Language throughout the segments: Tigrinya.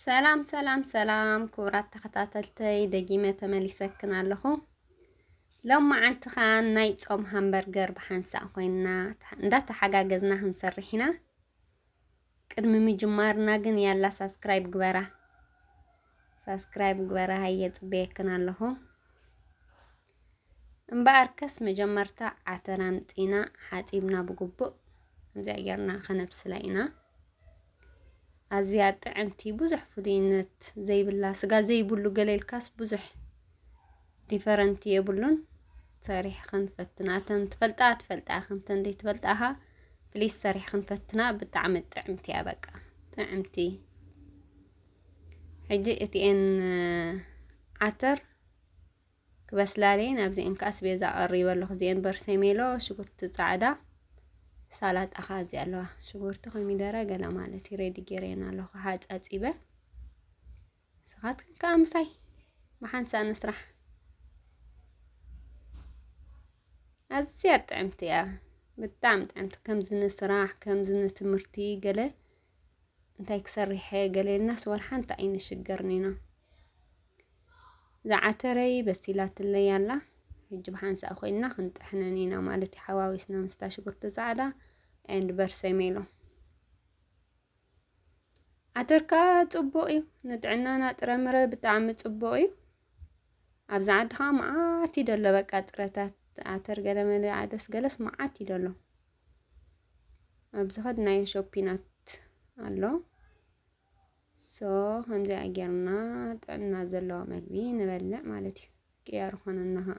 ሰላም ሰላም ሰላም ክቡራት ተኸታተልተይ ደጊመ ተመሊሰክን ኣለኹ ሎማዓንቲ ኸዓ ናይ ጾም ሃምበርገር ብሓንሳእ ኮይና እንዳተሓጋገዝና ክንሰርሕ ኢና ቅድሚ ምጅማርና ግን ያላ ሳስክራይብ ግበራ ሳስክራይብ ግበራ ሃየ ጽበየክን ኣለኹ እምበኣርከስ መጀመርታ ዓተር ኣምፂና ሓፂብና ብግቡእ ከምዚኣ ጌርና ከነብስላ ኢና ኣዝያ ጥዕምቲ ብዙሕ ፍሉይነት ዘይብላ ስጋ ዘይብሉ ገለ ኢልካስ ብዙሕ ዲፈረንት የብሉን ሰሪሕኽን ፈትና እተን ትፈልጣ ትፈልጣ ኢኽን እተን ዘይትፈልጣ ኸ ፕሊስ ሰሪሕኽን ፈትና ብጣዕሚ ጥዕምቲ እያ በቃ ጥዕምቲ ሕጂ እቲኤን ዓተር ክበስላለየን ኣብዚኤን ከዓ ስቤዛ ቀሪበ ኣለኹ እዚኤን በርሰሜሎ ሽጉርቲ ፃዕዳ ሳላጣ ከዓ ኣብዚ ኣለዋ ሽጉርቲ ኮሚደረ ገለ ማለት እዩ ሬዲ ጌረየን ኣለኹ ሓፃፂበ ንስኻትክን ከኣ ምሳይ ብሓንሳእ ንስራሕ። ኣዝያ ጥዕምቲ እያ ብጣዕሚ ጥዕምቲ ከምዚ ንስራሕ ከምዚ ንትምህርቲ ገለ እንታይ ክሰርሐ ገለ ኢልናስ ወላ ሓንቲ ኣይንሽገርን ኢና ዝዓተረይ በሲላትለይ ኣላ ሕጂ ብሓንሳእ ኮይንና ክንጥሕነን ኢና ማለት እዩ ሓዋዊስና ምስታ ሽጉርቲ ፃዕዳ ኤንድ በርሰሜሎ ዓተር ከዓ ፅቡቅ እዩ ንጥዕናና ጥረምረ ብጣዕሚ ፅቡቅ እዩ ኣብዚ ዓዲ ከዓ መዓት እዩ ደሎ በቃ ጥረታት ዓተር ገለመለ ዓደስ ገለስ መዓት እዩ ደሎ ኣብዚ ከድናዮ ሾፒናት ኣሎ ሶ ከምዚኣ ጌርና ጥዕና ዘለዋ መግቢ ንበልዕ ማለት እዩ ቅያር ኾነና ከዓ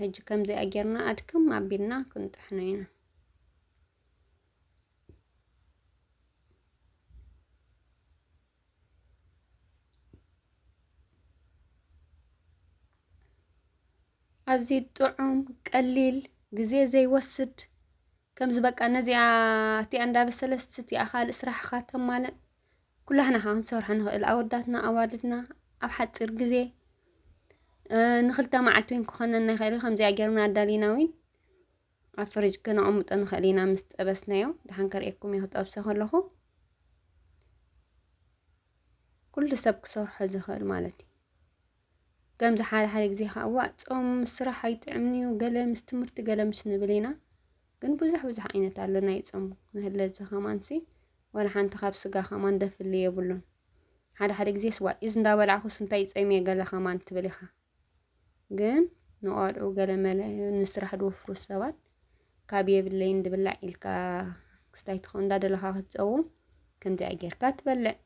ሕጂ ከምዚኣ ጌርና ኣድክም ኣቢልና ክንጥሕኖ ኢና ኣዝዩ ጥዑም ቀሊል ግዜ ዘይወስድ ከምዚ በቃ ነዚኣ እቲኣ እንዳበሰለስ እቲኣ ካልእ ስራሕኻ ተማልእ ኩላህና ከዓ ክንሰርሖ ንኽእል ኣወዳትና ኣዋልድና ኣብ ሓፂር ግዜ ንክልተ መዓልቲ እውን ክኾነና ይኽእል ከምዚኣ ጌርና ኣዳሊና እውን ኣብ ፍርጅ ክነቐምጦ ንኽእል ኢና ምስ ጠበስናዮ ድሓን ከርእየኩም እየ ክጠብሶ ከለኹ ኩሉ ሰብ ክሰርሖ ዝኽእል ማለት እዩ ከምዚ ሓደ ሓደ ግዜ ከዓ እዋ ፆም ምስ ስራሕ ኣይጥዕምን እዩ ገለ ምስ ትምህርቲ ገለ ምስ ንብል ኢና ግን ብዙሕ ብዙሕ ዓይነት ኣሎ ናይ ፆም መህለዚ ከማንሲ ወላ ሓንቲ ካብ ስጋ ከማን ደፍሊ የብሉን ሓደ ሓደ ግዜ ስዋ ኢዝ እንዳበላዕኩስ እንታይ ፀሚየ ገለ ከማን ትብል ኢኻ ግን ንቆልዑ ገለ መለ ንስራሕ ድወፍሩ ሰባት ካብ የብለይ እንድብላዕ ኢልካ ክስታይ ትኸውን እንዳደለኻ ክትፀውም ከምዚኣ ጌርካ ትበልዕ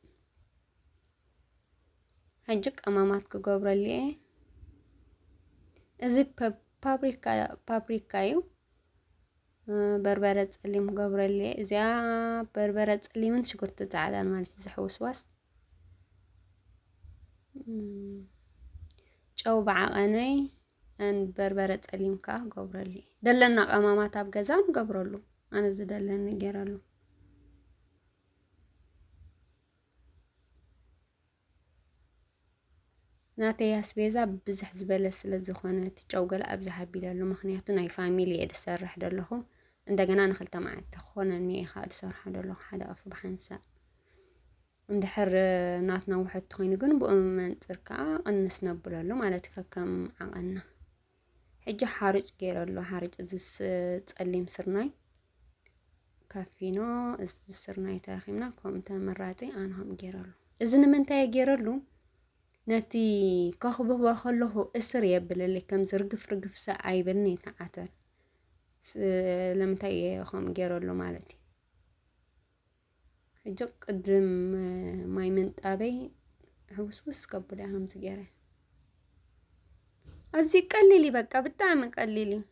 ሕጂ ቀማማት ክገብረሉ እየ እዚ ፓፕሪካ ፓፕሪካ እዩ በርበረ ጸሊም ክገብረሉ እየ እዚኣ በርበረ ጸሊምን ሽጉርቲ ጻዕዳን ማለት እዩ ዝሕውስዋስ ጨው ብዓቐነይ ን በርበረ ጸሊም ከዓ ገብረሉ እየ ደለና ቀማማት ኣብ ገዛ ንገብረሉ ኣነ ዝደለኒ ገይረሉ ናተይ ኣስቤዛ ብዝሕ ዝበለ ስለ ዝኾነ እቲ ጨው ገለ ኣብዝሕ ኣቢለሉ ምኽንያቱ ናይ ፋሚሊ እየ ዝሰርሕ ዘለኹ እንደገና ንክልተ መዓልቲ ክኾነኒ እየ ከዓ ዝሰርሖ ዘለኹ ሓደ ኣፍ ብሓንሳእ እንድሕር ናትና ውሕድ ኮይኑ ግን ብኡ መንፅር ከዓ ቅንስ ነብለሉ ማለት ከከም ዓቐንና ሕጂ ሓርጭ ገይረሉ ሓርጭ እዚ ጸሊም ስርናይ ካፊኖ እዚ ስርናይ ተረኺብና ከምኡ ተመራጺ ኣነ ከም ገይረሉ እዚ ንምንታይ ገይረሉ ነቲ ከኽብቦ ከለኹ እስር የብለለይ ከም ዝርግፍ ርግፍሰ ኣይብልኒ ተዓተር ስለምንታይ እየ ከምኡ ገይረሉ ማለት እዩ ሕጂ ቅድም ማይ ምንጣበይ ሕውስውስ ከብዳ ከምዚ ገይረ ኣዝዩ ቀሊል እዩ በቃ ብጣዕሚ ቀሊል እዩ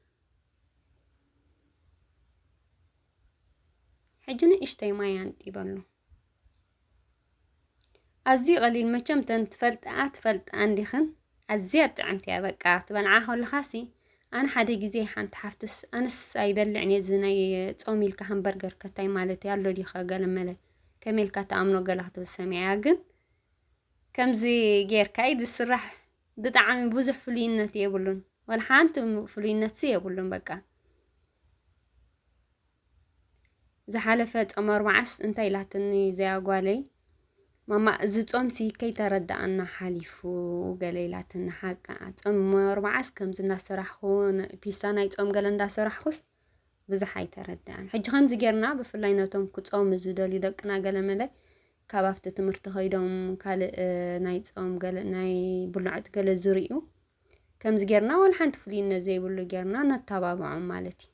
ሕጂ ንእሽተይ ማይ ኣንጢበሉ ኣዝዩ ቀሊል መቸም ተን ትፈልጥኣ ትፈልጣ እንዲኽን ኣዝያ ጥዕምቲ እያ በቃ ትበልዓ ከለኻሲ ኣነ ሓደ ግዜ ሓንቲ ሓፍትስ ኣነስ ኣይበልዕን እየ እዚ ናይ ጾም ኢልካ ሃምበርገር ከታይ ማለት እዩ ኣሎ ዲኸ ገለ መለ ከመይ ኢልካ ተኣምኖ ገለ ክትብል ሰሚዐያ ግን ከምዚ ጌርካ እዩ ዝስራሕ ብጣዕሚ ብዙሕ ፍሉይነት የብሉን ወላ ሓንቲ ፍሉይነትሲ የብሉን በቃ ዝሓለፈ ጾም ኣርባዓስ እንታይ ኢላትኒ እዚኣ ጓለይ ማማ እዚ ጾምሲ ከይተረድኣና ሓሊፉ ገለ ኢላትኒ ሓቃ ጾም ኣርባዓስ ከምዚ እናሰራሕኩ ፒሳ ናይ ጾም ገለ እንዳሰራሕኩስ ብዙሕ ኣይተረድኣን ሕጂ ከምዚ ጌርና ብፍላይ ነቶም ክጾሙ ዝደልዩ ደቅና ገለ መለ ካብ ኣብቲ ትምህርቲ ከይዶም ካልእ ናይ ጾም ገለ ናይ ብልዑት ገለ ዝርእዩ ከምዚ ጌርና ዋላ ሓንቲ ፍሉይነት ዘይብሉ ጌርና ነተባብዖም ማለት እዩ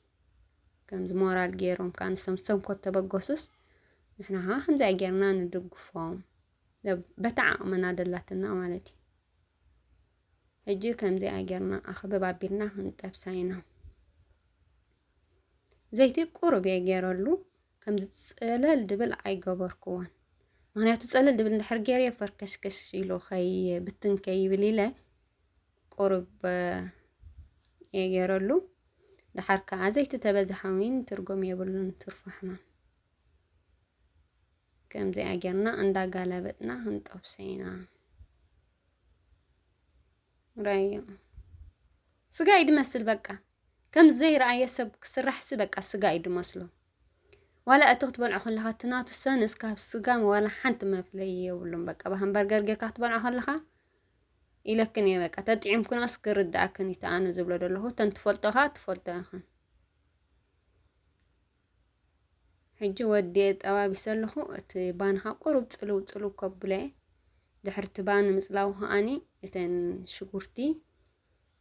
ከምዚ ሞራል ገይሮም ከዓ ንሶም ሰንኮት ተበገሱስ ንሕና ከዓ ከምዚ ገይርና ንድግፎም በታ ዓቕምና ደላትና ማለት እዩ ሕጂ ከምዚ ገይርና ኣኽብብ ኣቢልና ክንጠብሳ ኢና ዘይቲ ቁሩብ እየ ገይረሉ ከምዚ ፀለል ድብል ኣይገበርክዎን ምክንያቱ ፀለል ድብል እንድሕር ገይረዮ ፈርከሽከሽ ኢሉ ከይብትን ከይብል ኢለ ቁሩብ እየ ገይረሉ ድሓር ከዓ ዘይቲ ተበዝሓ ውን ትርጉም የብሉን ትርፉ ሕማም ከምዚኣ ጌርና እንዳጋለበጥና ክንጠብሶ ኢና ራዮ ስጋ እዩ ድመስል በቃ ከም ዘይረኣየ ሰብ ክስራሕሲ በቃ ስጋ እዩ ድመስሎ ዋላ እቲ ክትበልዖ ከለኻ እቲ ናቱ ሰንስ ካብ ስጋ ዋላ ሓንቲ መፍለይ የብሉን በቃ ብሃምበርገር ጌርካ ክትበልዖ ከለኻ ኢለክን እየ በቃ ተጥዒምክናስ ክርድኣክን እዩ ተኣነ ዝብሎ ዘለኹ እተን ትፈልጦ ከዓ ትፈልጦ ኢኽን ሕጂ ወዲኤ ጠባቢሰ ኣለኹ እቲ ባን ከዓ ቁሩብ ፅልው ፅልው ከብሎ እየ ድሕሪ እቲ ባን ምፅላው ከዓኒ እተን ሽጉርቲ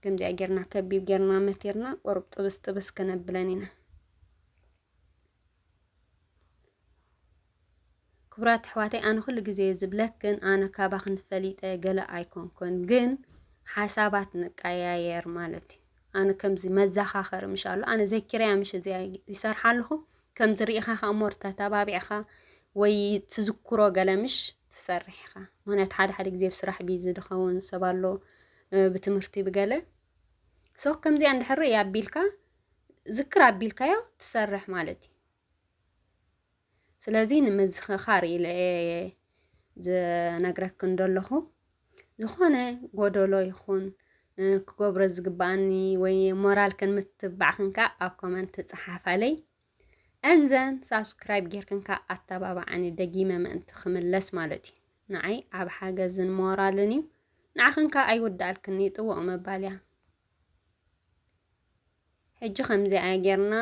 ከምዚኣ ጌርና ከቢብ ጌርና መቲርና ቁሩብ ጥብስ ጥብስ ከነብለን ኢና ክቡራት ኣሕዋተይ ኣነ ኩሉ ግዜ ዝብለክን ኣነ ካባክን ፈሊጠ ገለ ኣይኮንኩን፣ ግን ሓሳባት ንቀያየር ማለት እዩ። ኣነ ከምዚ መዘኻኸሪ ምሽ ኣሎ ኣነ ዘኪርያ ምሽ እዚ ይሰርሓ ኣለኹ ከምዚ ርኢኻ ከ እሞ ተተባቢዕኻ ወይ ትዝክሮ ገለ ምሽ ትሰርሕ ኢኻ። ምክንያቱ ሓደ ሓደ ግዜ ብስራሕ ቢዚ ዝኸውን ሰብ ኣሎ ብትምህርቲ ብገለ ሶ ከምዚኣ እንድሕር ኣቢልካ ዝክር ኣቢልካዮ ትሰርሕ ማለት እዩ ስለዚ ንምዝኽኻር ኢለ ዝነግረክ እንደለኹ ዝኾነ ጎደሎ ይኹን ክገብሮ ዝግባኣኒ ወይ ሞራል ከን ምትባዕ ክንካ ኣብ ኮመንት ትጽሓፋለይ እንዘን ሳብስክራይብ ጌርክንካ ኣተባባዓኒ ደጊመ ምእንቲ ክምለስ ማለት እዩ ንዓይ ኣብ ሓገዝን ሞራልን እዩ ንዓኽንካ ኣይውዳኣልክን ይጥወቕ መባልያ ሕጂ ከምዚ ኣይ ጌርና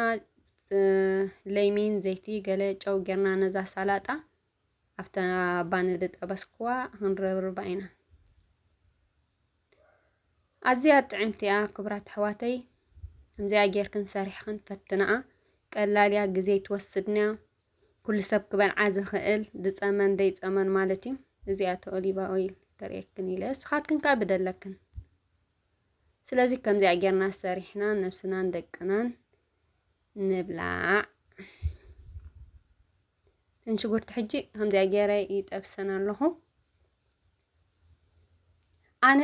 ለይሚን ዘይቲ ገለ ጨው ጌርና ነዛ ሳላጣ ኣብታ ባኒ ዝጠበስክዋ ክንረብርባ ኢና። ኣዝያ ጥዕምቲ እያ ክብራት ኣሕዋተይ። ከምዚኣ ጌርክን ሰሪሕክን ፈትንኣ። ቀላል እያ፣ ግዜ ትወስድን እያ። ኩሉ ሰብ ክበልዓ ዝኽእል ዝጸመን ዘይጸመን ማለት እዩ። እዚኣ ኦሊቫ ኦይል ተርእየክን ኢለ እስኻትክን ከኣ ብደለክን ስለዚ ከምዚኣ ጌርና ሰሪሕና ነብስናን ደቅናን ንብላዕ እተን ሽጉርቲ ሕጂ ከምዚኣ ገይረ ይጠብሰን ኣለኹ ኣነ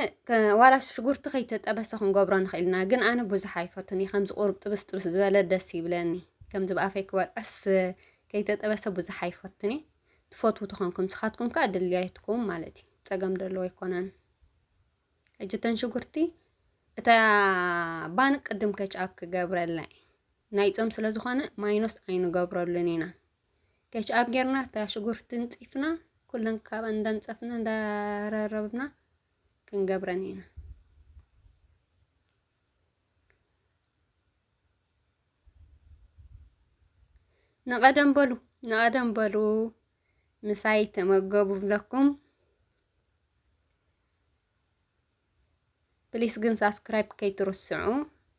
ዋላ ሽጉርቲ ከይተጠበሰ ክንገብሮ ንኽእል ኢና ግን ኣነ ብዙሕ ኣይፈቱን እዩ ከምዚ ቁርብ ጥብስ ጥብስ ዝበለ ደስ ይብለኒ ከምዚ ብኣፈይ ክበልዐስ ከይተጠበሰ ብዙሕ ኣይፈቱን እዩ ትፈትዉ ትኾንኩም ንስኻትኩም ከዓ ድልያይትኩም ማለት እዩ ፀገም ደለዎ ኣይኮነን እጅተን ሽጉርቲ እታ ባን ቅድም ከችኣብ ክገብረልና ናይ ፆም ስለ ዝኾነ ማይኖስ ኣይንገብረሉን ኢና ከችኣብ ጌርና እታ ሽጉርቲ ንፂፍና ኩለን ካብ እንዳንፀፍና እንዳረረብና ክንገብረን ኢና ንቐደም በሉ ንቐደም በሉ ምሳይ ተመገቡ ኣለኩም ፕሊስ ግን ሳብስክራይብ ከይትርስዑ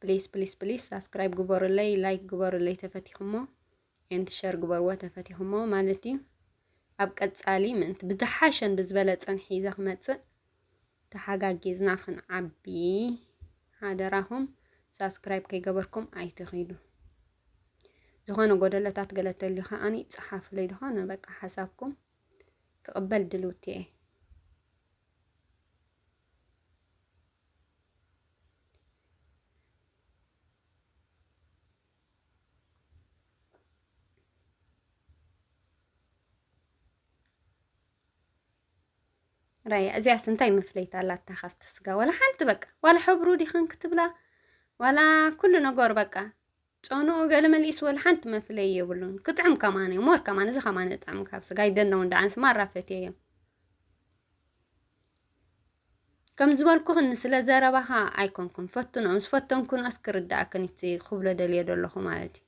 ፕሊስ ፕሊስ ፕሊስ ሳብስክራይብ ግበሩለይ ላይክ ግበሩለይ ተፈቲኹሞ ኤንድ ሸር ግበርዎ ተፈቲኹሞ ማለት እዩ ኣብ ቀጻሊ ምእንቲ ብዝሓሸን ብዝበለጸን ሒዘ ክመጽእ ተሓጋጊዝና ክንዓቢ ሓደራኹም ሳብስክራይብ ከይገበርኩም ኣይትኺዱ። ዝኾነ ጎደለታት ገለ ተልዩ ከዓኒ ጸሓፉለይ ዝኾነ በቃ ሓሳብኩም ክቕበል ድልውቲ እየ። ራያ እዚኣስ እንታይ መፍለይታ ኣላታ ካብቲ ስጋ ዋላ ሓንቲ በቃ ዋላ ሕብሩ ዲኽን ክትብላ ዋላ ኩሉ ነገሩ በቃ ጨንኡ ገለ መልእስ ወላ ሓንቲ መፍለይ የብሉን ክጥዕም ከማን እዩ ሞር ከማን እዚ ከማን እጥዕም ካብ ስጋ ይደነው እንዳ ኣንስ ማራፈት እዩ ከም ዝበልኩኽን ስለ ዘረባኻ ኣይኮንኩም ፈትኖ ምስ ፈተንኩን ኣስክርዳእክን እቲ ክብሎ ደልዮ ደለኹ ማለት እዩ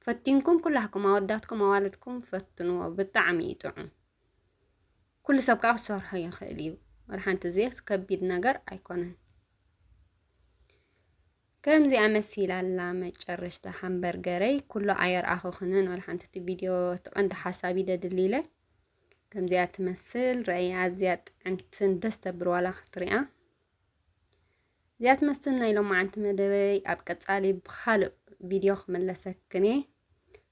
ፈቲንኩም ኩላህኩም ኣወዳትኩም ኣዋልድኩም ፈትንዎ ብጣዕሚ እዩ ጥዑም ኩሉ ሰብ ከዓ ክሰርሖ ይኽእል እዩ መድሓንቲ እዚስ ከቢድ ነገር ኣይኮነን ከምዚ ኣመሲላ ኣላ መጨረሽታ ሃምበርገረይ ኩሉ ኣየርኣኹኽንን ወላ ሓንቲ እቲ ቪድዮ እቲ ቀንዲ ሓሳብ ይደድሊ ኢለ ከምዚኣ ትመስል ረኣይ ኣዝያ ጥዕምትን ደስ ተብር ዋላ ክትሪኣ እዚኣ ትመስል ናይ ሎማዓንቲ መደበይ ኣብ ቀጻሊ ብኻልእ ቪድዮ ክምለሰክን እየ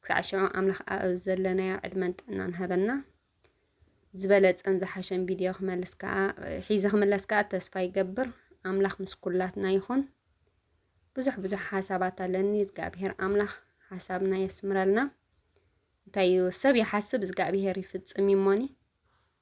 ክሳዕ ሽዑ ኣምላኽ ኣብ ዘለናዮ ዕድመን ጥዕናን ሃበና ዝበለጸን ዝሓሸን ቪድዮ ክመልስ ከዓ ሒዘ ክምለስ ከዓ ተስፋ ይገብር ኣምላኽ ምስ ኩላትና ይኹን ብዙሕ ብዙሕ ሓሳባት ኣለኒ እግዚኣብሄር ኣምላኽ ሓሳብና የስምረልና እንታይ እዩ ሰብ ይሓስብ እግዚኣብሄር ይፍጽም እዩሞኒ